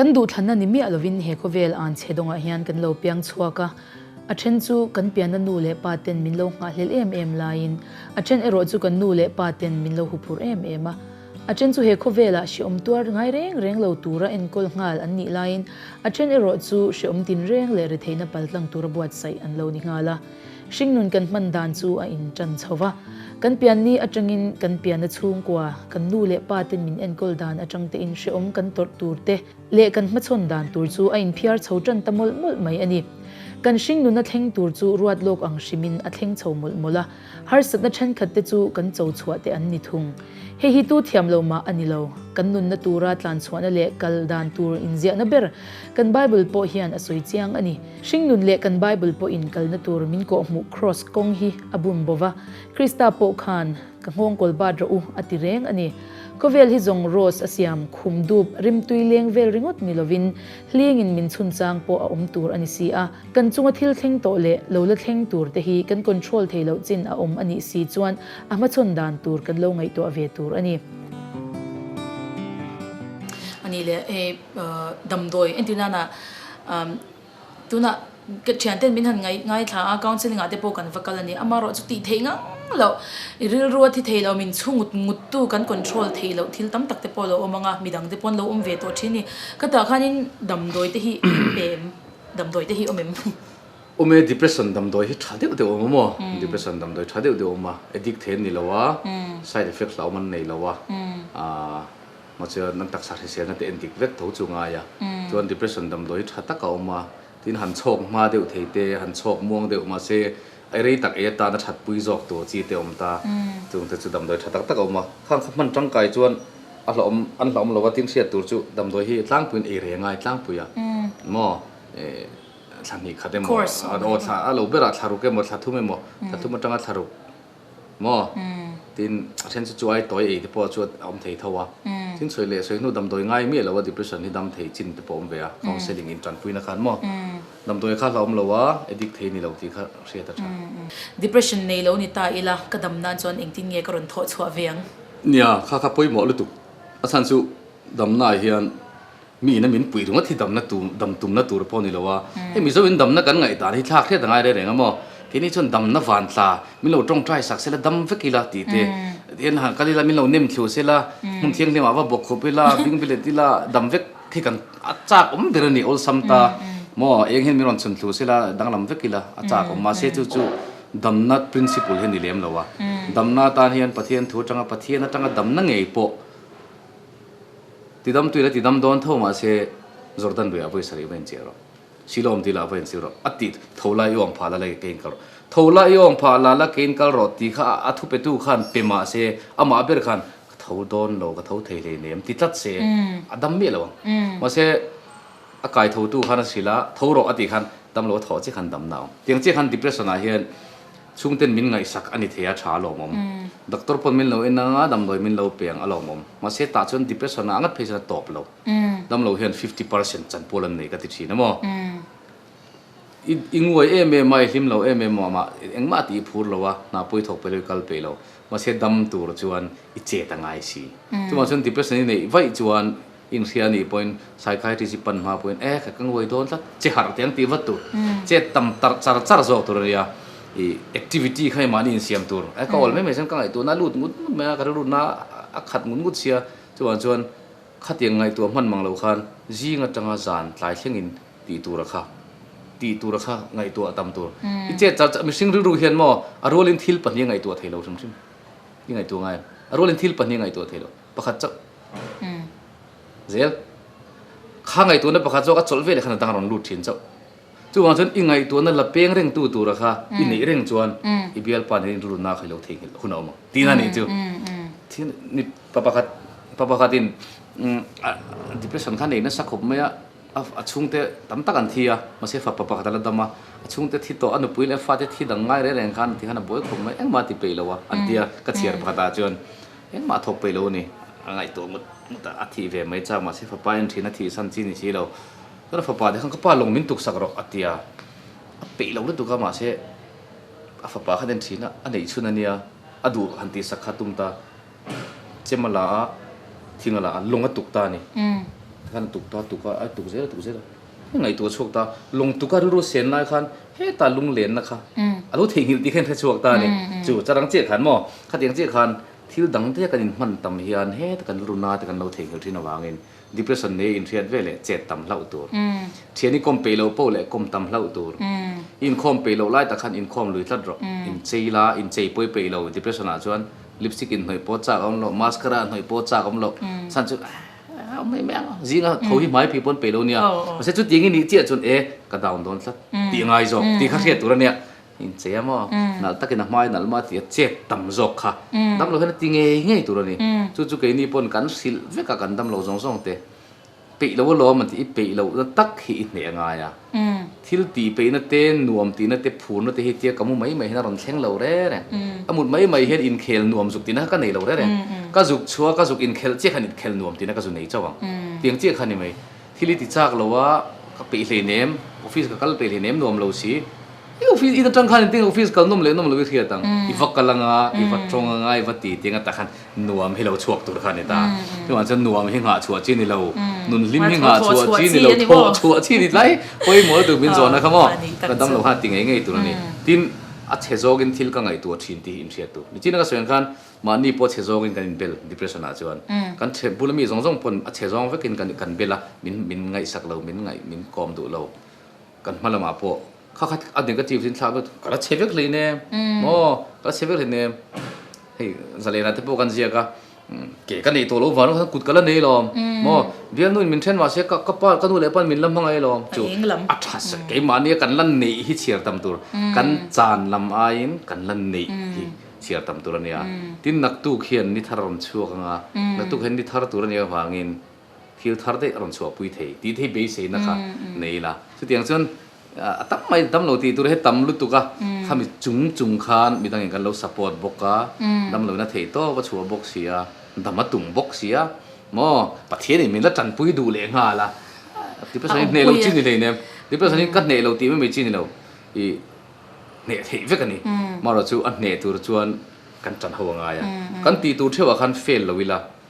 Kan duhthlanna ni miah lovin he khawvel an che dawngah hian kan lo piang chhuak a. A then chu kan pianna nu leh pa ten min lo nghahhlel em em laiin a then erawh chu kan nu leh pa ten min lo huphurh em em a. A then chu he khawvelah hrehawm tuar ngai reng reng lo tura enkawl nghal an nih laiin a then erawh chu hrehawm tin reng leh retheihna paltlang tura buatsaih an lo ni nghal a. Hringnun kan hman dan chu a in tan chho va, kan pian ni atangin kan pian a chhungkua, kan nu leh pa ten min enkawl dan atang te in hrehawm kan tawrh tur te leh kan hmachhawn dan tur chu a in phiar chho tan ta mawlh mawlh mai a ni. Kan hringnun a thleng tur chu ruat lawk ang hrim in a thleng chho mawlh mawlh a, harsatna thenkhat te chu kan cho chhuah te an ni thung. Hei hi tu thiam lo mah a ni lo, kan nunna tura tlan chhuahna leh kal dan tur inziahna ber kan Bible pawh hian a sawi chiang a ni. Hringnun leh kan Bible pawhin kalna tur min kawhhmuh kraws kawng hi a bun bo va, Krista pawh khan ka nghawng kawl bat rawh u a ti reng a ni. Khawvel hi zawng rose a siam khum dup rimtui leng vel ringawt ni lovin hlingin min chhunchang pawh a awm tur a ni si a, kan chunga thil thleng tawh leh lo la thleng tur te hi kan control thei loh chin a awm a nih si chuan a hmachawn dan tur kan lo ngaihtuah ve tur a ni. Ani le. damdawi entir nan a tunah ka thian ten min han ngai thla a counselling ah te pawh kan va kal a ni ama erawh chu tih theih ngang loh i rilru a thi theih loh min chhu ngut ngut tu kan control thei loh thil tam tak te pawh a lo awm ang a midang te pawh an lo awm ve tawh thin ni ka tah khan in damdawi te hi a awm em damdawi te hi a awm em. Awm e depression damdawi hi tha deuh deuh a awm a maw depression damdawi tha deuh deuh a awm a addict theih an ni lo a side effects hlauh awm an nei lo a. Maw chuan an taksa hrisel na te endik vek tho chu ngai a, chuan depression damdawi tha tak a awm a, tin han chhawk hma deuh thei te, han chhawk muang deuh mahse i rei tak ei atan a thatpui zawk tur chi te awm ta, chung te chu damdawi tha tak tak a awm a, khang kha hman tangkai chuan a hlauhawm an hlauhawm lo a tin hriat tur chu damdawi hi tlangpuiin ei reng a, i tlangpui a maw thla hnih khat emaw, aw thla a lo berah thlaruk emaw, thla thum emaw, thla thum atanga thlaruk Maw? Tiin a then chu chu ai tawi ei te pawh chu a awm thei tho a. Tin sawi leh sawi hnu damdawi ngai miah loh a depression hi dam thei chin te pawh awm ve a, counselling in tanpui na khan maw? Damdawi kha a hlauhawm lo a, addict thei ni lo tih kha hriat a tha. Depression nei lo ni ta ila ka dam nan chuan engtin nge ka rawn thawh chhuah ve ang? Nia, kha kha pawimawh lutuk. A chhan chu damna ah hian. Miin a min puih ringawt hi damna tur, dam tumna tur pawh ni lo a, hei Mizo in damna kan ngaihdan hi thlak hriat a ngai reng reng a maw? Keini chuan damna vantla min lo tawngtai sak sela dam vek ila ti te en han kal ila min lo nem thlu sela hmun thianghlim ah va bawk khup ila bing bilet ila dam vek khi kan a chak awm der a ni awlsam ta maw? Eng hian min rawn chhun thlu sela danglam vek ila a chak awm mahse chu chu damna principle hi a ni lem lo a, damna atan hian Pathian thu atanga Pathian atanga damna ngei pawh. Ti dam tuin a ti dam dawn tho mah se, Jordan riah ah vawi sarih va inchiah rawh, Siloam dil ah va insir rawh, a ti tho lai i awm phah lala kei inkal rawh. Tho lai i awm phah lala kei inkal rawh ti kha a thu pe tu khan pe mah se, amah ber khan ka tho dawn lo, ka tho thei hlei nem ti tlat se a dam miah lo ang. Mah se a kai tho tu khan a si la, tho rawh a ti khan dam lo a thaw chiah khan dam na a awm. Tiang chiah khan depression ah hian. Chhungten min ngaihsak a ni thei a, tha alawm awm. Doctor pawn min lo en a, damdawi min lo peng alawm awm. Mahse tah chuan depression-a a ngat phei chuan a tawp lo. Damlo hian fifty percent chanpul an nei ka ti thin a maw? I i nguai em em a, i hlim lo em em a, mah engmah tih i phur lo a, hna pawi thawk pawhin i kal peih lo. Mahse dam tur chuan i chet a ngai si. Chumah chuan depression i neih vaih chuan. Inhria anih pawhin Psychiatrist i pan hma pawhin e ka ngawih dawn tlat che harh teh ang tih vat tur chet tam tarh char char zawk tur a nia i activity kha i mahni insiam tur e ka awl mai mai chuan ka ngaihtuahna a lut ngut ngut mai a ka rilrutna a khat ngut ngut sia chuvang chuan khatiang ngaihtuah hman mang lo khan zing atanga zan tlai thlengin tih tura kha tih tura kha ngaihtuah tam tur i chet char char mihring rilru hian maw a rualin thil pahnih a ngaihtuah thei lo hrim hrim i ngaihtuah ngai a a rualin thil pahnih a ngaihtuah thei lo. Pakhat chauh zel kha ngaihtuahna pakhat zawk a chawlh veleh khan a dang a rawn lut thin chauh. Chuvang chuan i ngaihtuahna la peng rengtu tura kha i neih reng chuan i bialpa nen rilru nak hi lo thei nghilh hun a awm ang tiin a nih chu. Thian ni pa pakhat pa pakhatin depression kha nei nasa khawp mai a, a chhungte tam tak an thi a, mahse fa pa pakhat a la dam a, a chhungte thi tawh a nupui leh a fate thi dang ngai reng reng khan ti khan a buai khawp mai engmah a ti peih lo a an tia ka chhiar pakhatah chuan Engmah thawk pawh i lo ni. A ngaihtuah ngut ngut a, a thih ve mai chang mahse fapa in thin a thih san chi ni si lo. Tuna fapa te khan ka pa lawng min tuksak rawh a ti a. A peih lo lutuk a mahse a fapa khan en thin a, a neih chhun a nia, a duh han tih sak kha a tum ta. Chem a la a, thing a la a, lawng a tuk ta a ni. Tikhan a tuk ta, a tuk a, a tuk zel a, a tuk zel a. He ngaihtuah chhuak ta lawng tuka rilru sen lai khan heta lunglenna kha a lo theihnghilh tih kha in hre chhuak ta a ni. Chu charang chiah khan maw? Khatiang chiah khan thil dang te kan inhman tam hian heta kan rilru na te kan lo theihnghilh thin avangin depression leh inhriat vel leh chet tam hlauh tur, thian i kawm peih lo pawh leh kawm tam hlauh tur, i inkhawm peih loh lai tak khan inkhawm lui tlat rawh, inchei la, inchei pawi peih lo, depression ah chuan lipstick inhnawih pawh chak a awm loh, mascara a hnawih pawh chak a awm loh, chhan chu. Aa awm mai mai ang zinga tho hi hmai phei pawn peilo nia mahse chu tiangin nih chiah chuan e ka down dawn tlat tih ngai zawk tih kha hriat tur ania in chei a maw nalh takin a hmai nalh maw tia chep tam zawk kha dam lo hian a ti ngei ngei tur ani chu chu keini pawn kan hrilh vek a kan damlo zawng zawng te peih lo alawm a tih i peih loh na tak hi i hneh a ngai a. Thil ti peihna te, nuam tihna te, phurna te hi tia ka mu mai mai hian a rawn thleng lo rêr e. Ka mut mai mai hian inkhel nuam zuk tihna kha ka nei lo rêr e. Ka zuk chhuak, ka zuk inkhelh chiah khan inkhel nuam tihna ka zu nei chauh ang. Tiang chiah kha a ni mai. Thil i ti chak lo a, ka peih hleinem, office ka kal peih hleinem nuam lo si. I office in atang khan engtin office kal nawm leh nawm lo i hriat ang. I va kal anga, i va tawng anga, i va ti ti anga takhan nuam hi lo chhuak tur kha a ni ta. Chuvang chuan nuam hi nghah chhuah chi a ni lo, nun hlim hi nghah chhuah chi a ni lo, thawh chhuah chi a ni tlai. Pawimawh la turbin zawn a kha maw? Ka dam lo khan a ti ngei ngei tur a ni. Tin, a chhe zawkin thil ka ngaihtuah thin tih hi in hriat duh. Nichina ka sawiang khan mahni pawh chhe zawkin kan inbel depression ah chuan. Kan chhe bula mi zawng zawng pawn a chhe zawng vekin kan kan bel a, min min ngaihsak lo, min ngaih, min kawm duh lo. Kan hma lamah pawh kha kha a negative hi thlak vek ka la chhe vek hlei nem maw ka la chhe vek hlei nem hei zalena te pawh kan ziak a ke ka nei tawh lo vang kha kut ka la nei lawm maw bialnu in min then mah se ka pa ka nu leh pa in min la hmangaih lawm chu a tha sawi keimahni a kan la neih hi chhiar tam tur kan chan lam aiin kan la neih hi chhiar tam tur a nia tin naktuk hian ni thar a rawn chhuak ang a naktuk hian ni thar tur a nih avangin. thil thar daih a rawn chhuah pui thei tih te hi beiseina kha nei ila, chutiang chuan a tam mai dam lo tih tur hi tam lutuk a, khami chung chung khan mi dangin kan lo support bawk a, damloina thei tawp a chhuah bawk si a, dam a tum bawk si a maw, Pathianin min la tanpui duh leh nghal a, Depression-in hneh lo chi ni hlei nem, Depression-in ka hneh lo tih mai mai chi ni lo, i hneh theih vek a ni, maw rawh chu a hneh tur chuan kan tanho a ngai a, kan tih tur theuhah khan fail lo ila.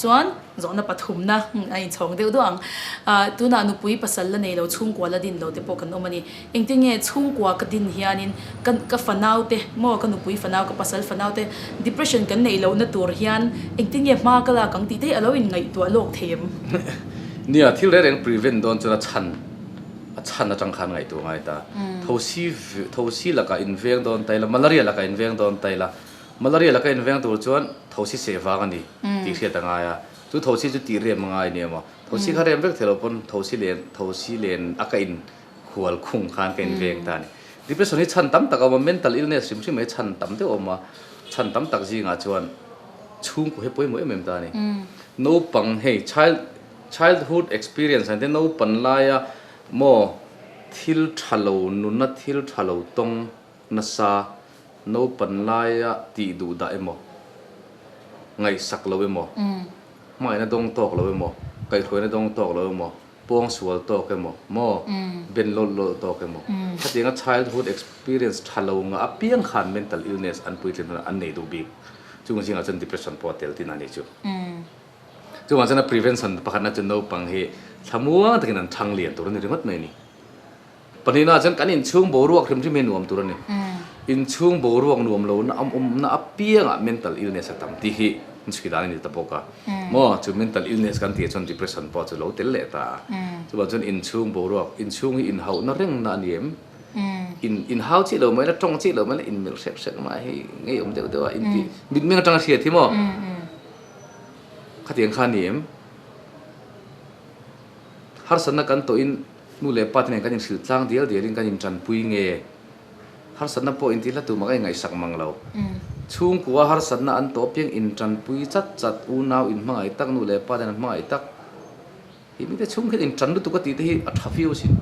chuan zawhna pathumna a inchhawng deuh deuh ang. Tunah nupui pasal la nei lo, chhungkua la din lo te pawh kan awm a ni. Engtin nge chhungkua ka din hianin ka ka fanau te maw, ka nupui fanau, ka pasal fanau te depression kan neih lohna tur hian engtin nge hma ka lak ang tih te a lo inngaihtuah lawk thei em? Nia, thil reng reng prevent dawn chuan a chhan, a chhan atang khan ngaihtuah a ngai ta. Thosi thosi lakah inveng dawn ta ila, malaria lakah inveng dawn ta ila, Malaria laka inveng tur chuan thosi seh vang a ni tih hriat a ngai a. Chu thosi chu tih rem a ngai ni emaw? Thosi kha rem vek theih lo pawn thosi len thosi len a ka in khual khung khan ka inveng ta a ni. Depression hi chhan tam tak a awm a, mental illness hrim hrim mai chhan tam deuh a awm a. Chhan tam tak zingah chuan chhungkaw hi a pawimawh em em ta a ni. Naupang hei child childhood experience an tih a, naupan laia maw thil tha lo nuna, thil tha lo tawng, Nasa naupan laia tih duh dah emaw, ngaihsak lo emaw, hmaina dawng tawk lo emaw, kaihhruaina dawng tawk lo emaw, pawng sual tawk emaw, maw ben lawlh lawlh tawk emaw, khatianga childhood experience tha lo ngah apiang khan mental illness an puitling hunah an nei duh bik. Chung zingah chuan depression pawh a tel tih na nih chu. Chungah chuan a prevention pakhatna chu naupang hi thlamuang takin an thang lian tur a ni ringawt mai a ni. Pahnihna chuan kan inchhung boruak hrim hrim hi nuam tur a ni. Inchhung boruak nuam lohna awmna apiangah mental illness a tam tih hi nchki dan a ni ta bawk a. Maw? Chu mental illness kan tih chuan depression pawh chu lo tel leh ta a. Chuvang chuan inchhung boruak, inchhung hi inhauhna rengna a ni em? In inhau chih lo mai na, tawng chih lo mai na, inmelh hrep hrep mai hi ngeiawm deuh deuh a inti mitmeng atanga a hriat hi maw? Khatiang kha a ni em? Harsatna kan tawhin. Nu leh pate nen kan inhril tlang dial dialin kan intanpui nge? Harsatna pawh intihla tumah kan ingaihsak mang lo. Chhungkua harsatna an tawh piang intanpui chat chat, unau inhmangaih tak, nu leh paten an hmangaih tak. Kei mite chhung hian intan lutuk a ti te hi a tha fiau sin.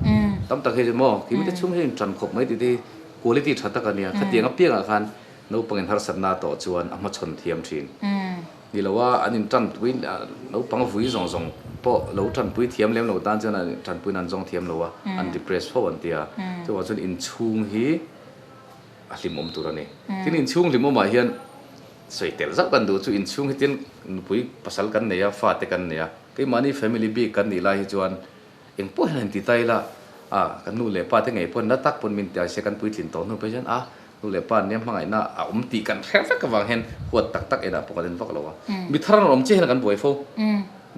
Tam tak hi chu maw? Kei mite chhung hian intan khawp mai ti te hi quality tha tak a nia. Khatiang apiangah khan naupangin harsatna a tawh chuan a hmachhawn thiam thin. Ni lo a, an in tanpui, naupang vui zawng zawng pawh lo tanpui thiam lem lo tan chuan an in tanpuiin an zawng thiam lo a, an depress fo an ti a. Chuvang chuan inchhung hi a hlimawm tur a ni. Tin, inchhung hlimawmah hian sawi tel zauh kan duh chu inchhung hi tin nupui pasal kan nei a, fate kan nei a, keimahni family bik kan nih lai hi chuan, Eng pawh hian a inti ta ila, a, kan nu leh pate ngei pawh nila tak pawh an min ti ase, kan puitlin tawh hnu phei hian a, nu leh pa niam hmangaihna a awm tih kan hre vek avang hian huat tak tak enah pawh kan en vak lo a. Mi thar a rawn awm chiah hian kan buai fo.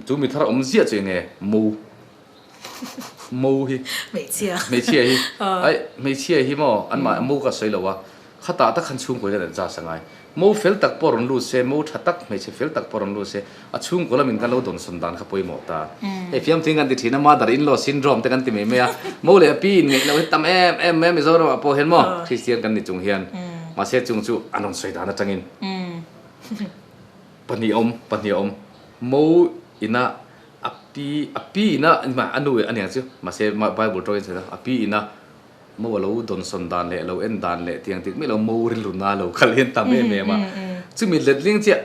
Chu mi thar a awm ziah chu eng nge mo, mo hi, hmeichhia hi, hmeichhia hi maw, anmah mo kha a sawi lo a. Khatah tak khan chhungkaw hian an charge a ngai. Mo fel tak pawh rawn lut se, mo tha tak, hmeichhe fel tak pawh rawn lut se, a chhungkaw lamin kan lo dawnsawn dan kha pawimawh ta. Hei fiamthi'n kan ti thin a, mother in law syndrome te kan ti mai mai a. Mo leh a pi inngeih loh hi tam em em mai a Mizoramah pawh hian maw, Kristian kan ni chung hian. Mahse chung chu an rawn sawi dan atangin pahnih a awm, pahnih a awm. Mo ina a pi, a pi ina, eng mah, a nu leh a niang chu, mahse Bible tawngin a sawi dan a, a pi ina, Mo a lo dawnsawn dan leh a lo en dan leh tiang dik mai lo, Mo rilruna a lo kal en ta mai em em a. Chumi hletling chiah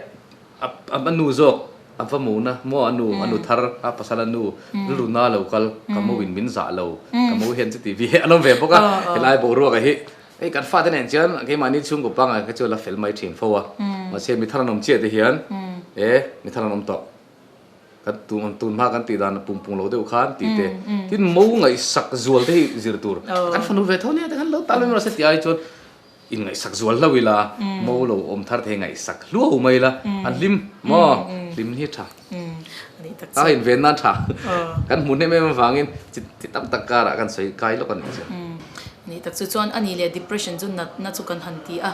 a a nu zawk a va mo na, Mo a nu, a nu thar, a pasal a nu rilruna a lo kal, ka Mo in min zah lo, ka Mo hian chuti vi a lo ve bawk a. Helai boruak a hi hei kan fate nen chuan keimahni chhungkaw panga kha chu a la fel mai thin fo a, mahse mi thar an awm chiahte hian e mi thar an awm tawh. Kan tun hma kan tih dan a pungpung lo deuh khan tih te. Tin mo ngaihsak zual te hi zir tur a kan fanu ve tho nia te khan lo tal mai mawrh se tih ai chuan in ngaihsak zual hlo ila mo lo awm thar theih hi ngaihsak hluau mai ila a hlim maw hlim hi tha a in ve nan tha kan hmu hnem em avangin chi tam tak karah kan sawi kai lawk a nih chu. Nih tak chu chuan a nih leh depression chu natna chu kan han ti a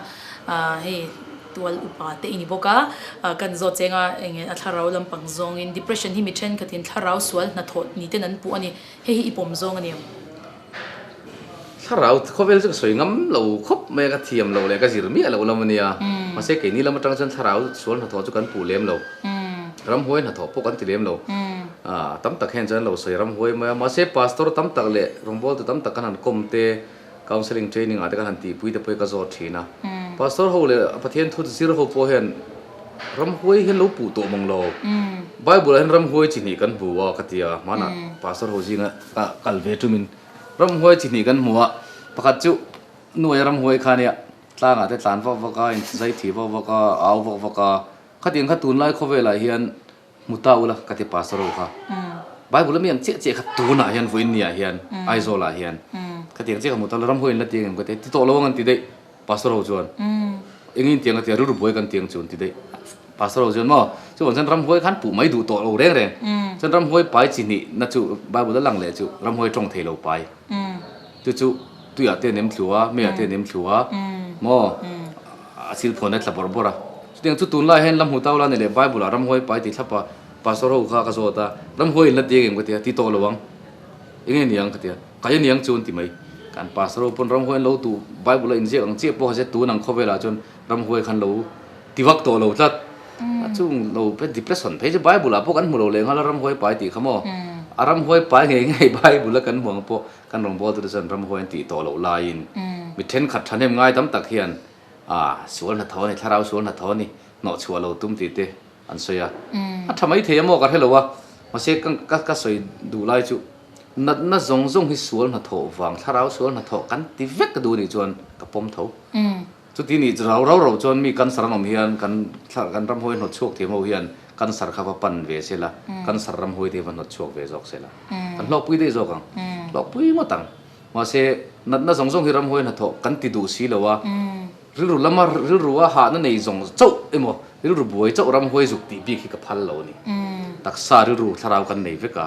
hei. tual upa te i ni bawk a, kan zawt cheng a eng nge a thlarau lampang zawngin depression hi mi thenkhatin thlarau sual hnathawh ni ten an puh a ni, hei hi i pawm zawng a ni ang. Thlarau khawvel chu ka sawi ngam lo khawp mai a, ka thiam lo leh ka zir miah loh lam a nia, mahse keini lam atang chuan thlarau sual hnathawh chu kan puh lem lo, ramhuai hnathawh pawh kan ti lem lo, tam tak hian chuan an lo sawi ramhuai mai a, mahse pastor tam tak leh rawngbawl tu tam tak kan han kawm te, counselling training ah te kan han tihpui te pawhin ka zawt thin a. Pastor ho leh a Pathian thu zir ho pawh hian ram huai hi an lo puh tawh mawng lo. Bible ah hian ram huai chi hnih kan hmu a ka ti a, hmanah Pastor ho zing a ka kal ve tum in ram huai chi hnih kan hmu a, pakhat chu nuaih a ram huai kha nia tlang ah te tlan vak vak a, in zai thih vak vak a, a au vak vak a, khatiang kha tunlai khawvel ah hian Hmu ta ula, ka ti Pastor ho kha. Bible a mian chiah chiah kha tunah hian vawiin ni ah hian, Aizawl ah hian, ka tiang chiah kha hmu ta ula, ram ho in la tiang em ka ti a, ti tawh lo ang an ti daih Pastor ho chuan. Eng in tiang ka ti a, rilru buai kan tiang chu an ti daih Pastor ho chuan maw. Chuan chuan ram hawi khan puh mai duh tawh lo reng reng. Chuan ram hawi pai chi hnih na chu Bible a lang leh chu ram hawi a tawng thei lo pai. Tu chu tuiah te an em thlu a, meiah te an em thlu a maw? A thil phuan a tla bawrh bawrh a. Chutiang chu tunlaiah hian la hmu tau la ni le, Bible-ah ram huai pai tih thlap a pastor ho kha ka zawt a, ram huai in la ti ang em ka ti a, ti tawh lo ang, eng nge ni ang ka ti a, kai a ni ang chu an ti mai. Kha an pastor ho pawn ram huai an lo tu Bible a inziak ang chiah pawh kha se, tun ang khawvelah chuan ram huai khan lo ti vak tawh lo tlat. A chung lo pe depression phei chu Bible-ah pawh kan hmu lo leh nghal a ram huai pai tih kha maw? A ram huai pai ngei ngei Bible-a kan hmu ang pawh Kan rawngbual tute chuan ramhuai an tih tawh loh laiin mi thenkhat thahnem ngai tam tak hian sual hna thaw a ni, thlarau sual hna thaw a ni, hnawh chhuah lo tum tih te an sawi a. A tha mai thei amaw ka hre lo a, mahse ka sawi duh lai chu natna zawng zawng hi sual hna thaw vang, thlarau sual hna thaw kan ti vek ka duh a nih chuan ka pawm tho. Chuti nih chu rau rau rau chuan mi cancer an awm hian kan thla kan ramhawi hnawt chhuak thei ho hian cancer kha va pan ve se la, cancer ramhawi te hi va hnawt chhuak ve zawk se la. Kan hlawkpui daih zawk ang, hlawkpui ngawt ang. Mahse, natna zawng zawng hi ramhawi hna thawh kan ti duh si lo a, rilru lama rilrua hahna nei zawng chauh emaw, rilru buai chauh ramhawi zuk tih bik hi ka phal lo a ni. Taksa rilru thlarau kan nei vek a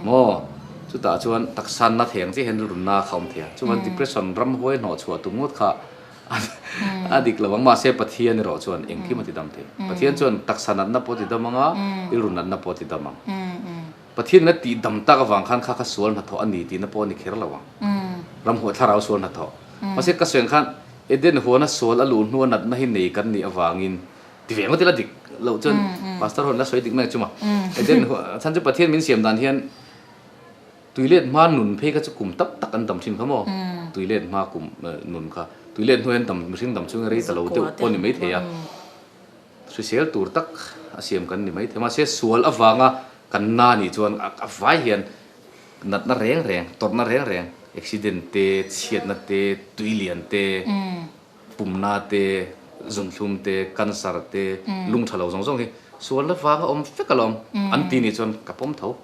maw? Chutah chuan taksa nattheng chiah hian rilru na kha awm thei a. Chuan depression ramhawi hnawh chhuah tum ngawt kha a dik lo ang. Mahse Pathian erawh chuan engkim a ti dam thei. Pathian chuan taksa natna pawh a ti dam ang a, rilru natna pawh a ti dam ang. Pathian ina tih dam tak avang khan kha kha sual hnathawh a ni tihna pawh a ni kher lo ang. Ram huah thlarau sual hnathawh. Mahse ka sueng khan Eden huana sual a luh hnu a natna hi nei kan nih avangin ti ve ang maw tila dik loh chuan Pastor ho ila sawi dik mai a chum a. Eden huan khan chu Pathian min siam dan hian Tuilet hma nun phei kha chu kum tak tak an dam thin kha maw? Tuilet hma kum nun kha tuilet hnuai an dam mihring dam chunga rei ta lo deuh pawh a ni mai thei a, hrisel tur tak a siam kan ni mai thei. Mahse sual avanga kan na nih chuan a vai hian natna reng reng, tawrhna reng reng, accident te, chhiatna te, tui lian te, Pumna te, zumthlum te, cancer te, lungtha lo zawng zawng hi sual la vanga awm fek ala awm. An ti ni chuan ka pawm tho.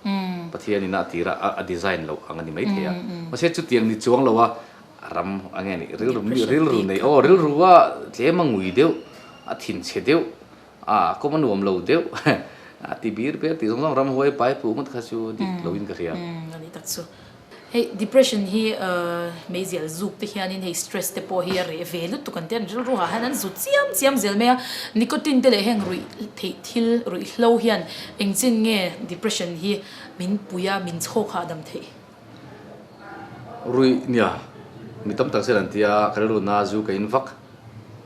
Pathian in a tira a design loh ang a ni mai thei a. Mahse chutiang ni chuang lo a ram a nge ni rilru nei aw rilru a tlem a ngui deuh a thin che deuh A kawm a nuam lo deuh. A ti bir bir tih zawng zawng ram huai pai puh ngawt kha chu dik loin ka hria. Umm ani tak chu. Hei depression hi meizial zuk te hianin hei stress te pawh hi a reh ve lutuk an ti a, an rilru ha hian an zut chiam chiam zel mai a, nicotine te leh heng ruih theih thil ruih hlo hian engchin nge depression hi min pui a, min chhawk hahdam theih. Ruih nia mi tam tak zet an ti a, ka rilru na zu ka in vak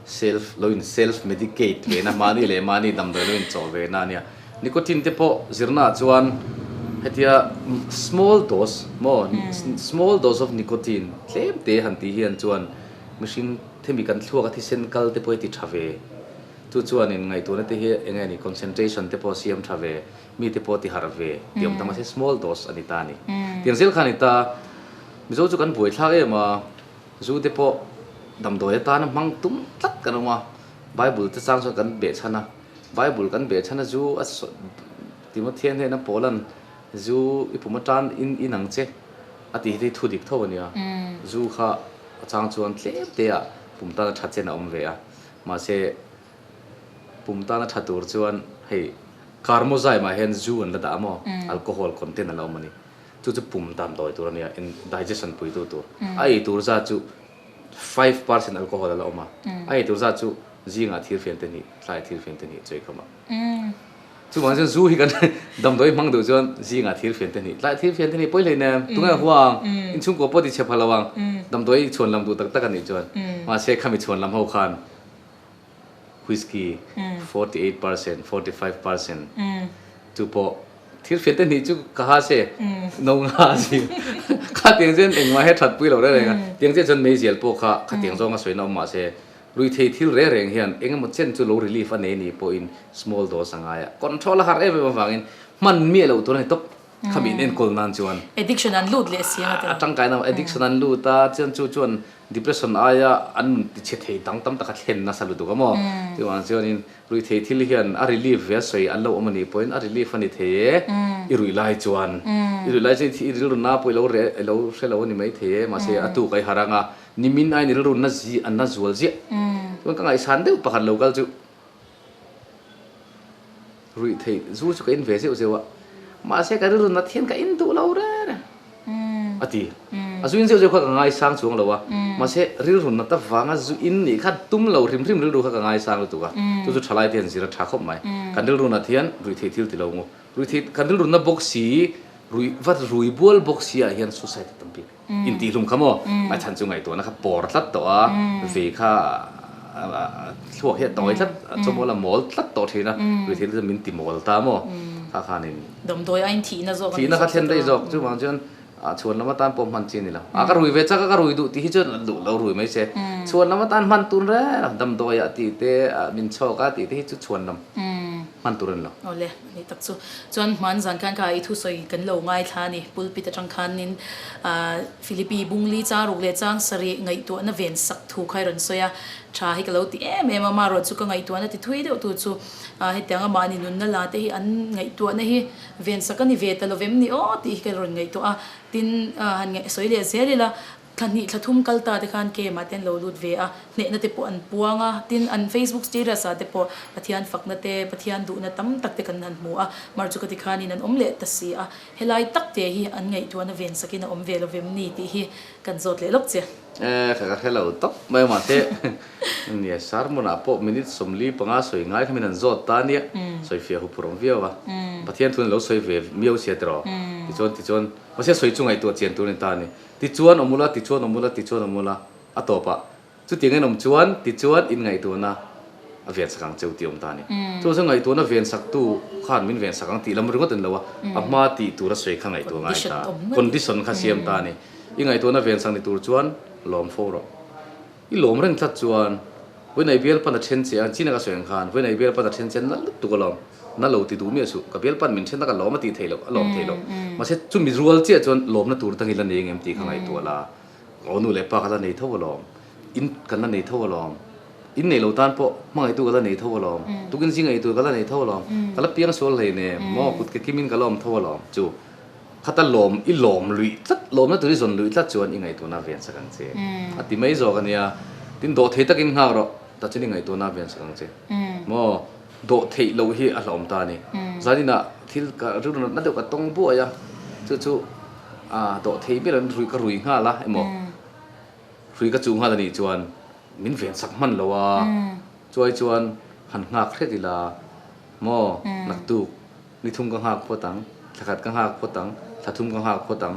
self lo in self medicate ve na mahni leh mahni damdawi lo in chawh ve na nia nicotine te pawh zir na ah chuan hetia small dose maw small dose of nicotine tlem te han tih hian chuan mihring hemi kan thluak a thisen kal te pawh hi ti tha ve chu chuan in ngaihtuahna te hi enge ni concentration te pawh siam tha ve. Mi te pawh ti harh ve ti awm ta mahse small dose a ni ta a ni. Tiang zel kha a ni ta. Mizo chu kan buaithlak em a, zu te pawh damdawi atan a hmang tum tlat kan awm a, Bible te chang chuan kan beh chhan a. Bible kan beh chhan a zu a Timothy-a hnena Paul-a'n zu i pum atan in in ang che a tih hi hei thu dik tho a nia. Zu kha a chang chuan tlem teah pum tan a that chen a awm ve a, mahse, Pum tana tha tur chuan hei Karmo zai mah hian zu an la dah a maw, alcohol content a la awm a ni. Chu chu pum dan dawi tur a nia, indigestion pui duh tur. A ei tur zat chu five percent alcohol a la awm a, a ei tur zat chu zingah thil fian te hnih, tlaiah thil fian te hnih chawihkam a. Chuvang chuan zu hi kan dam dawi hmang duh chuan zingah thil fian te hnih, tlaiah thil fian te hnih pawi hlei nen, tunge a hua ang, inchhung kua pawh a tichhe phah lo ang, dam dawi chhuan lam duh tak tak a nih chuan. Mahse khami chhuan lam ho khan. Whisky forty eight percent, forty five percent chu pawh thil hriat te hnih chu ka ha se, no nga a si. Kha tiang chuan engmah he thatpui lo reng reng a, tiang chiah chuan meizial pawh kha kha tiang zawnga sawiin a awm mah se, ruithei thil reng reng hian engemaw chen chu low relief a nei ni pawhin small dose a ngai a, control a har em em avangin hman miah loh tur a ni tawp. khami in enkawl nan chuan addiction an lut leh si anga te a tangkai nang addiction an lut a chuan chu chuan depression aia an tichhe thei dang tam taka thlen nasa lutuk a maw chuvang chuan in ruihthei thil hian a relief ve sawi an lo awm anih pawhin a relief ani thei e i ruih lai chuan i ruih lai chuan i rilrun na pawh i lo reh i lo hre lo ani mai thei e mahse a tuk a i harh ang a nimin ain rilrun na zia na zual ziah chuan ka ngaihsan deuh pakhat lo kal chu. Ruih theih zu chu ka in ve zeuh zeuh a, mahse ka rilru nat hian ka in duh lo rer a, a ti. A zu in zeuh zeuh kha ka ngaisang chuang lo a, mahse rilru nat avanga zu in nih khan tum lo hrim hrim rilru kha ka ngaisang lutuk a, chu chu tha lai te hian zir a tha khawp mai. Kan rilru nat hian ruih theih thil ti lo ngu. Ruih theih kan rilru na bawk si, ruih va ruih bual bawk si ah hian suicide a tam bik. Intihhlum kha maw? A chhan chu ngaihtuahna kha pawr tlat tawh a, ve kha a thluak hiah tawng ai tlat, a chawmawla mawl tlat tawh thin a, Rithilu chuan min timawl ta maw? Kha khanin. Damdawi aiin thihna zawk a ni zawk chu. Thihna kha thlen daih zawk, chuvang chuan a chhuan lam atan pawh hman chi a ni lo. A ka rui ve chak a, ka rui duh tih hi chuan a duh lo rui mai se. Chhuan lam atan hman tur reng reng, damdawiah tihte, min chhawkah tihte hi chu chhuan lam hman tur a ni lo. Ni tak chu. Chuan hmaan zan khan ka i thu sawi kan lo ngaithla a ni. Pulpit atang khanin Philippi Bungli changruk leh changsarih ngaihtuahna ven sak thu kha i rawn sawi a. Tha hi ka lo ti em em a, mah erawh chu ka ngaihtuahna ti thui deuh tu chu hetiang a, mahni nunna la te hi an ngaihtuahna hi ven sak a ni ve ta lovem ni aw tih hi ka rawn ngaihtuah a. Tin han sawi leh zel ila. Thla hnih thla thum kal ta te khan KM-ah te an lo lut ve a, hnehna te pawh an puang a, tin an Facebook status-ah te pawh Pathian fakna te, Pathian duhna tam tak te kan han hmu a, mar chu ka ti khanin an awm leh ta si a, helai tak te hi an ngaihtuahna ven sakin a awm ve lo vem ni tih hi kan zawt leh lawk che. Ehh kha ka hre lo tawp mai mahse nia sermon-ah pawh minute sawmli panga sawi ngai khamin an zawt ta nia, sawi fiah huphurh ang viau a, Pathian thu in lo sawi ve miau si a tiraw? Tichuan tichuan mahse sawi chu ngaihtuah chian tur a ni ta a ni, Tichuan awm ula, tichuan awm ula, tichuan awm ula a tawp a. Chutiang in awm chuan tichuan in ngaihtuahna a vensak ang cheu tih awm ta a ni. Chuvang chuan ngaihtuahna vensak-tu khan min vensak ang tih lam ringawt a ni lo a, a hma tih tur a sawi kha ngaihtuah ngai ta a, condition kha a siam ta a ni. I ngaihtuahna vensak ni tur chuan lawm fo rawh. I lawm reng tlat chuan Vawi nei bial pan a then che a, China ka sawi ang khan Vawi nei bial pan a then che a nalh lutuk ka lawm, na lo ti duh miah suh, ka bial pan min then na ka lawm a tih theih loh, a lawm theih loh. Mahse chumi rual chiah chuan lawmna tur atang i la nei ang em tih kha ngaihtuah la, awnu leh pa ka la nei tho alawm, in kan la nei tho alawm, in neih lo tan pawh hmangaitu ka la nei tho alawm, tukin zing ei tur ka la nei tho alawm, ka la piang sual hlei nem, maw kut ka kim in ka lawm tho alawm chu. Khata lawm i lawm luih tlat, lawmna tur i zawn luih tlat chuan i ngaihtuahna vian sak ang che. A ti mai zawk a nia. Tin, dawh thei takin nghak rawh, tachin i ngaihtuahna vian sak ang che. Maw? Dawh theih loh hi a hlawm ta a ni. Zaninah thil ka rilruatna deuh ka tawng buai a, chu chu dawh thei ber in rui ka rui nghal a emaw, rui ka chuh nghal a nih chuan min vian sak hman lo a, chuai chuan han nghak hret ila maw naktuk? Ni thum ka nghak phawt ang, thla khat ka nghak phawt ang, thla thum ka nghak phawt ang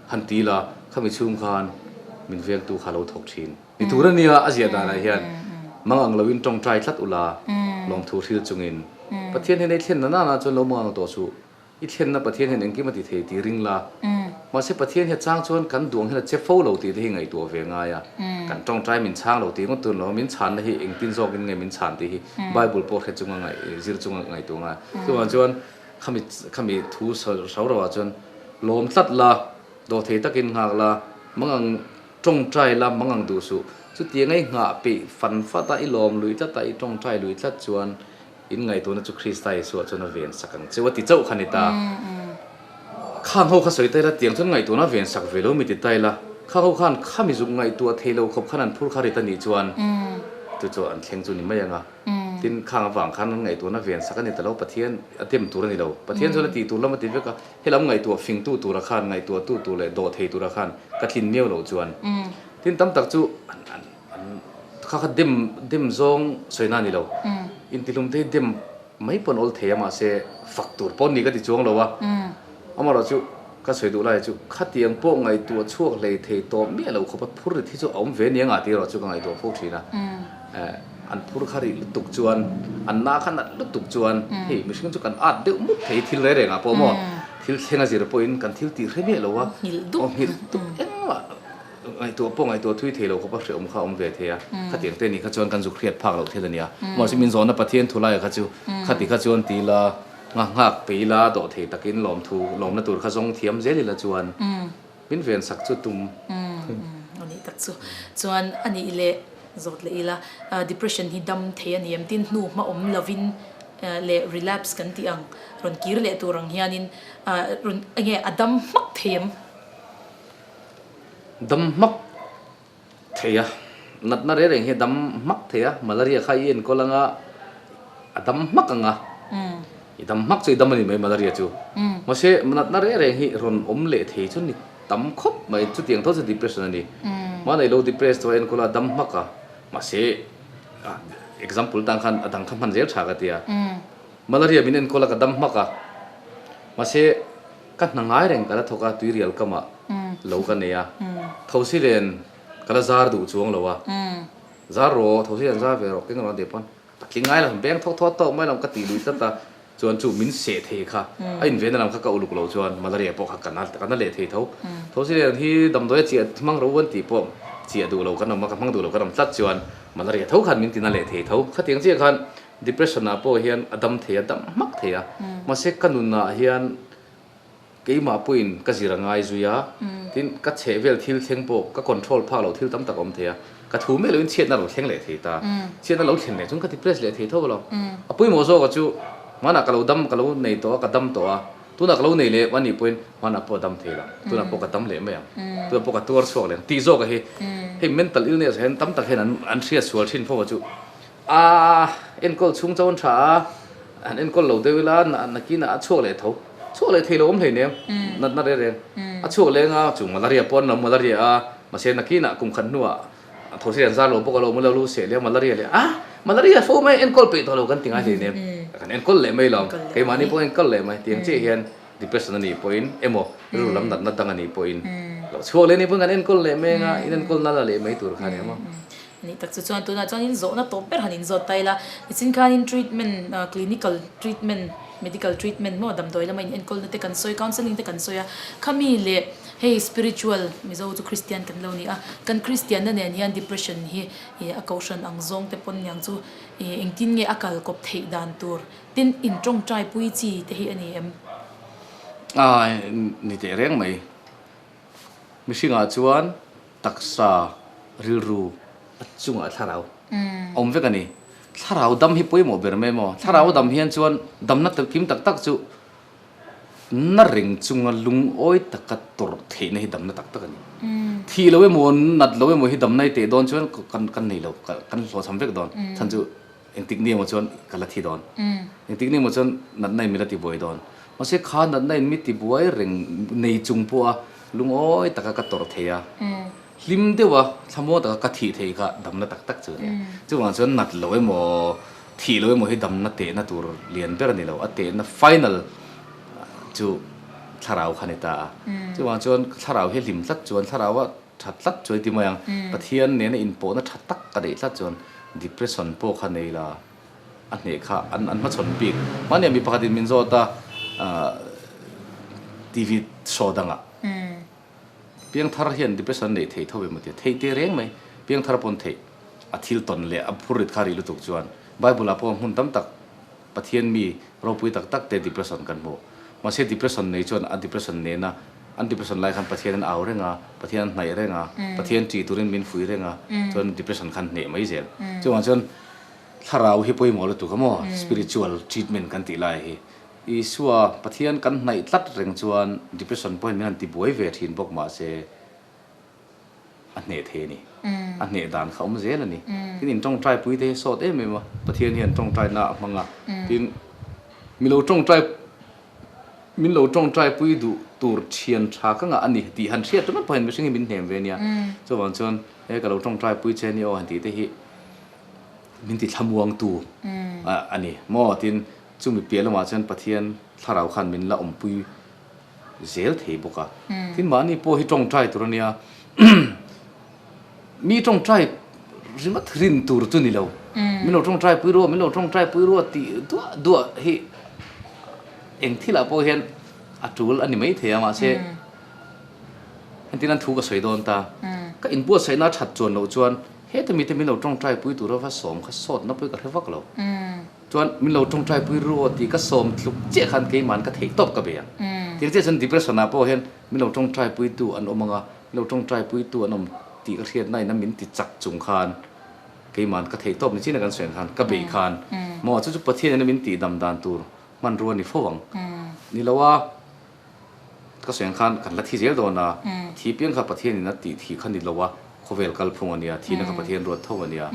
han ti la, khami chhung khan min vengtu kha lo thawk thin. Ni tur a nia, a ziah danah hian mangang loin tawngtai tlat ula, lawmthu hril chungin Pathian hian i thlenna nana chuan lo mangang tawh suh, i thlenna Pathian hian engkim a ti thei ti ring la. Mahse Pathian hi a chang chuan kan duang hian a che fo lo tih te hi ngaihtuah a ve ngai a, kan tawngtai min chhang lo tih ngawt tur an lo a, min chhanna hi engtin zawkin nge min chhan tih hi Bible pawh hre chunga ngaih, zir chunga ngaihtuah ngai. Chuvang chuan khami khami thu hro ro ah chuan lawm tlat la, dawh thei takin nghak la, mangang tawngtai la, mangang duh suh. Chutianga i nghah peih fan fat a, i lawm lui tlat a, i tawngtai lui tlat chuan in ngaihtuahna chu Krista Isuah chuan a ven sak ang che. Ti chauh kha ni ta. Khang ho kha sawi ta ila tiang chuan ngaihtuahna a ven sak ve lo mi ti ta ila, khang ho khan khami zuk ngaihtuah thei lo khawp khan an phur kha ri ta nih chuan chu chu an thleng chu ni mai ang a. Tin, khang avang khan an ngaihtuahna a ven sak a ni ta lo, Pathian a tem tur a ni lo. Pathian chuan a tihtur lam a ti vek a, helam ngaihtuah fingtu tura khan, ngaihtuahtu tur leh dawh thei tura khan ka tlin miau lo chuan. Tin, tam tak chu kha kha dem dem zawng sawina a ni lo. Intihlumte hi dem mai pawn awl thei a, mahse fak tur pawn ni ka ti chuang lo a. Amarawh chu ka sawi duh lai chu khatiang pawh ngaihtuah a chhuak hlei thei tawh miah lo khawpa phur rit hi chu a awm ve nia ngah tih erawh chu ka ngaihtuah phur thin a. Eh, an phur kha rih lutuk chuan, an na kha nalh lutuk chuan hei mihring chu kan at deuh mut thei thil rei rengah pawh maw, thil thleng a zir pawhin kan thil tih hre miah lo a, aw nghilh dup engmah ngaihtuah pawh ngaihtuah thui thei lo khawpa hrehawm kha a awm ve thei a, khatiang te nih kha chuan kan zuk hriat phak loh thil a nia. Mahse min zawnna Pathian thu lai kha chu khati kha chuan ti ila, Ngakngak pe ila dawh thei takin lawmthu lawmna tur kha zawng thiam zel ila chuan min ven sak chu tum a nih tak chu chuan a nih leh zawt leh ila depression hi dam thei a ni em tin hnu hma awm lovin leh relapse kan tih ang rawn kir leh tur ang hianin rawn enge a dam hmak thei em? Dam hmak Thei a, natna reng reng hi a dam hmak thei a, malaria kha i enkawl anga a dam hmak ang a, i dam hmak chu i dam a ni mai malaria chu, mahse natna reng reng hi rawn awm leh thei chu a ni tam khawp mai, chutiang tho chu depression a ni, hmanei lo depress chu a enkawl a a dam hmak a, mahse example tan khan a dang kha hman zel tha ka ti a, malaria min enkawl a ka dam hmak a, mahse. Ka hna ngai reng ka la thawk a, tuirial kamah lo ka nei a, thosi len ka la zar duh chuang lo a, zar rawh, thosi len zar ve rawh, keng rawh ania pawn ka tling ngai lo, beng thawk thawt tawh mai lo ka tih lui tlat a, chuan chu min seh thei kha a invenna lam kha ka uluk lo chuan malaria pawh kha ka na ka na leh thei tho, thosi len hi damdawi a chiah hmang ro an tih pawh chiah duh lo kan awm a, ka hmang duh lo kan awm tlat chuan malaria tho khan min ti na leh thei tho, khatiang chiah khan Depression ah pawh hian a dam thei a dam hmak thei a, mahse ka nunah hian keimah pawhin ka zir a ngai zui a, tin ka chhehvel thil thleng pawh ka control phak loh thil tam tak a awm thei a, ka thu mek loin chhiatna a lo thleng leh thei ta, chhiatna lo thlen leh chuan ka depress leh thei tho lo, a pawimawh zawk ah chu hmanah ka lo dam ka lo nei tawh a, ka dam tawh a, tunah ka lo nei leh a nih pawhin hmanah pawh a dam thei lo, tunah pawh ka dam leh mai ang, tunah pawh ka tuar chhuak leh ang tih zawk a hi hei mental illness ah hian tam tak hian an hriat sual thin fo a chu. A enkawl chhung chauhan tha a, han enkawl lo deuh ila na nakin a chhuak leh tho. Chhuak leh thei loawm hleinem, natna rereng. A chhuak leng a, chung malaria pawh an lo malaria a, mahse nakinah kum khat hnuah those an zar lo bawk alo awmilo lu seh leh a malaria leh a, malaria fo mai enkawl peih tawh lo kan ti ngai hleinem. Kan enkawl leh mai lo, keimahni pawh enkawl leh mai. Tiang chiah hian depression a nih pawhin emaw rilru lam natna dang a nih pawhin lo chhuak leh nih pawhin kan enkawl leh mai anga in enkawl nala leh mai tur khan emaw. Nih tak chu chuan tunah chuan in zawhna tawp ber han in zawt ta ila, nichin khan in treatment ah clinical treatment medical treatment maw damdawi lama in enkawl na te kan sawi counselling te kan sawi a, khami leh hei spiritual mizo chu Christian kan lo ni a, kan Christian na nen hian depression hi ih a kohhran ang zawng te pawn niang chu ih engtin nge a kal kawp theih dan tur tin in tawngtai pui chi te hi a ni em? Ai ni teh reng mai. Mihringah chuan taksa rilru a chungah thlarau a awm vek a ni. Thlarau dam hi pawimawh ber mai maw? Thlarau a dam hian chuan damna kim tak tak chu na reng chunga lungawi taka tawrh theihna hi damna tak tak a ni. Thih lo emaw, nat lo emaw hi damna i teh dawn chuan kan kan nei lo, kan hlawhchham vek dawn. Chhan chu Engtik ni emaw chuan ka la thi dawn. Engtik ni emaw chuan natna in min la ti buai dawn. Mahse kha natna in mi ti buai reng nei chung pawha lungawi taka ka tawrh thei a. Hlim deuh a thlamaw taka ka thih thei kha damna tak tak chu a ni a. Chuvang chuan nat lo emaw thih lo emaw hi damna tehna tur lian ber a ni lo. A tehna final chu thlarau kha a ni ta a. Chuvang chuan ka thlarau hi a hlim tlat chuan thlarau a. Tha tlat chu a ti mai ang. Pathian nena inpawhna tha tak ka neih tlat chuan depression pawh kha nei la a hneh kha an hmachhawn bik. Mahnia mi pakhatin min zawt a TV show dangah Piangthar hian depression neih thei tho em a ti a, theih teh reng mai. Piangthar pawn theih a thil tawn leh a phur rit kha a ri lutuk chuan Bible-ah pawh hmun tam tak. Pathian mi ropui tak tak te depression kan hmu. Mahse depression nei chuan a depression nen a, an depression lai khan Pathian in au reng a, Pathian an hnaih reng a, Pathian ṭih turin min fuih reng a, chuan depression khan hneh mai zel. Chuvang chuan thlarau hi pawimawh lutuk a maw, spiritual treatment kan tih lai hi. Isua, Pathian kan hnaih tlat reng chuan depression pawhin min han ti buai ve ṭhin bawk mahse, A hneh thei a ni. A hneh dan kha awm zel a ni. Tin, in tawngtai pui te hi a sawt em em a, Pathian hian tawngtai na a hmang a. Tin, min lo tawngtai, min lo tawngtai pui duh tur thian tha ka ngah a ni tih han hriat rawh pahin mihring hi min hnem ve nia. Chuvang chuan, he ka lo tawngtai pui che a ni aw han tih te hi min ti thlamuang tu a ni maw? Tin, chumi piah lamah chuan Pathian thlarau khan min la awm pui. zel thei bawk a, tin mahni pawh hi tawngtai tur a nia, mi tawngtai ringawt rin tur chu ni lo, min lo tawngtai pui ruaw, min lo tawngtai pui ruaw tih duah duah hi eng thilah pawh hian a tul a ni mai thei a, mahse hetinan thu ka sawi dawn ta, ka inbuatsaihna a that chuan loh chuan heta mite min lo tawngtai pui tura va sawm kha sawt na pawh hi ka hre vak lo. Chuan min lo tawngtai pui ru aw tih ka sawm thluk chiah khan keimahan ka theih tawp ka be a. Tih chiah chuan depression ah pawh hian min lo tawngtai pui tu an awm ang a, min lo tawngtai pui tu an awm tih ka hriat na in a min ti chak chung khan keimahan ka theih tawp ni chin a kan suan khan ka be khan maw chu chu Pathian in a min ti dam dan tur hmanrua ni fo ang ni lo a. Ka seng khan ka hla thi zel dawn a, thi piang kha Pathian in a tih thi kha ni lo a, khawvel kal phung a nia, thina kha Pathian ruat tho a nia.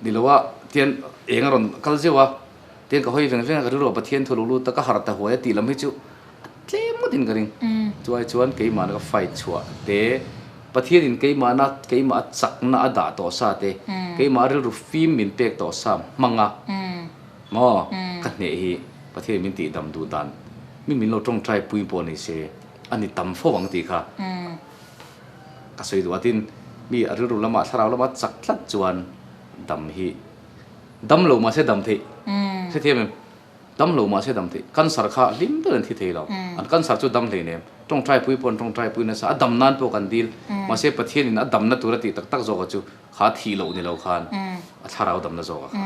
Ni lo a, tian eng a rawn kal zeuh a, tian ka hawi veng veng a, ka rilru a Pathian thu a lo lut a, ka har ta huai a, tih lam hi chu a tlem ngawt in ka ring. Chuai chuan keimah na ka fight chhuah te, Pathian in keimah na, keimah a chak na a dah tawh sa te, keimah a rilru fim min pek tawh sa hmang a, Maw, ka hneh hi Pathian min tih dam duh dan mi min lo tawngtai pui pawh ni se, a ni tam fo ang tih kha ka sawi duh. Atin mi a rilru lama, thlarau lama chak tlat chuan dam hi dam lo mahse dam theih hre thiam em? Dam lo mahse dam theih. Cancer kha hlim deuhin an thi thei lo. An cancer chu dam hlein em? Tawngtai pui pawh an tawngtai pui nasa, a dam nan pawh kan dil. Mahse Pathianin a damna tura tih tak tak zawkah chu, Kha thih loh nilo khan a thlarau damna zawk a kha.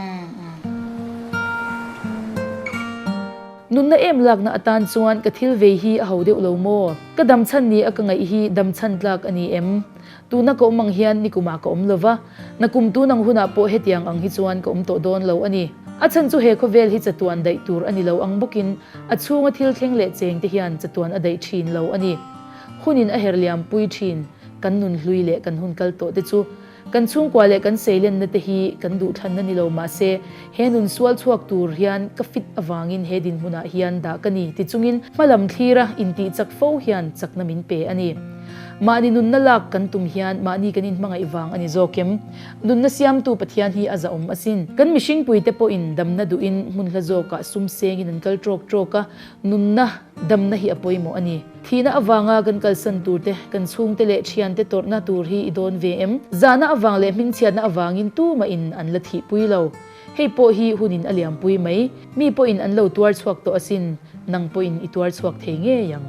Nunna em lakna atan chuan ka thil vei hi a ho deuh lo maw? Ka dam chhan ni a ka ngaih hi dam chhan tlak a ni em? Tuna ka awm ang hian nikumah ka awm lo va, na kum tun ang hunah pawh hetiang ang hi chuan ka awm tawh dawn lo a ni. A chhan chu he khawvel hi chatuan daih tur a ni lo ang bawkin a chhunga thil thleng leh cheng te hian chatuan a daih thin lo a ni. Hunin a herh liam pui thin. Kan nun hlui leh kan hun kal tawhte chu kan chhungkua leh kan seilenna-te hi kan duhthlanna ni lo mahse, he nun sual chhuak tur hian ka fit avangin he dinhmunah hian dah ka ni ti chungin hma lam thlira intih chak fo hian chakna min pe a ni. Mahni nunna lak kan tum hian mahni kan inhmangaih vang a ni zawk em? Nunna siamtu Pathian hi a zahawm asin. Kan mihringpuite pawhin damna duhin hmun hla zawkah sum sengin an kal trawk trawk a, nunna, damna hi a pawimawh a ni. Thihna avanga kan kalsan turte, kan chhungte leh thiante tawrhna tur hi i dawn ve em? Zahna avang leh hmingchhiatna avangin tumahin an la thihpui lo. Hei pawh hi hunin a liampui mai. Mi pawhin an lo tuar chhuak tawh asin, nang pawhin i tuar chhuak thei ngei ang.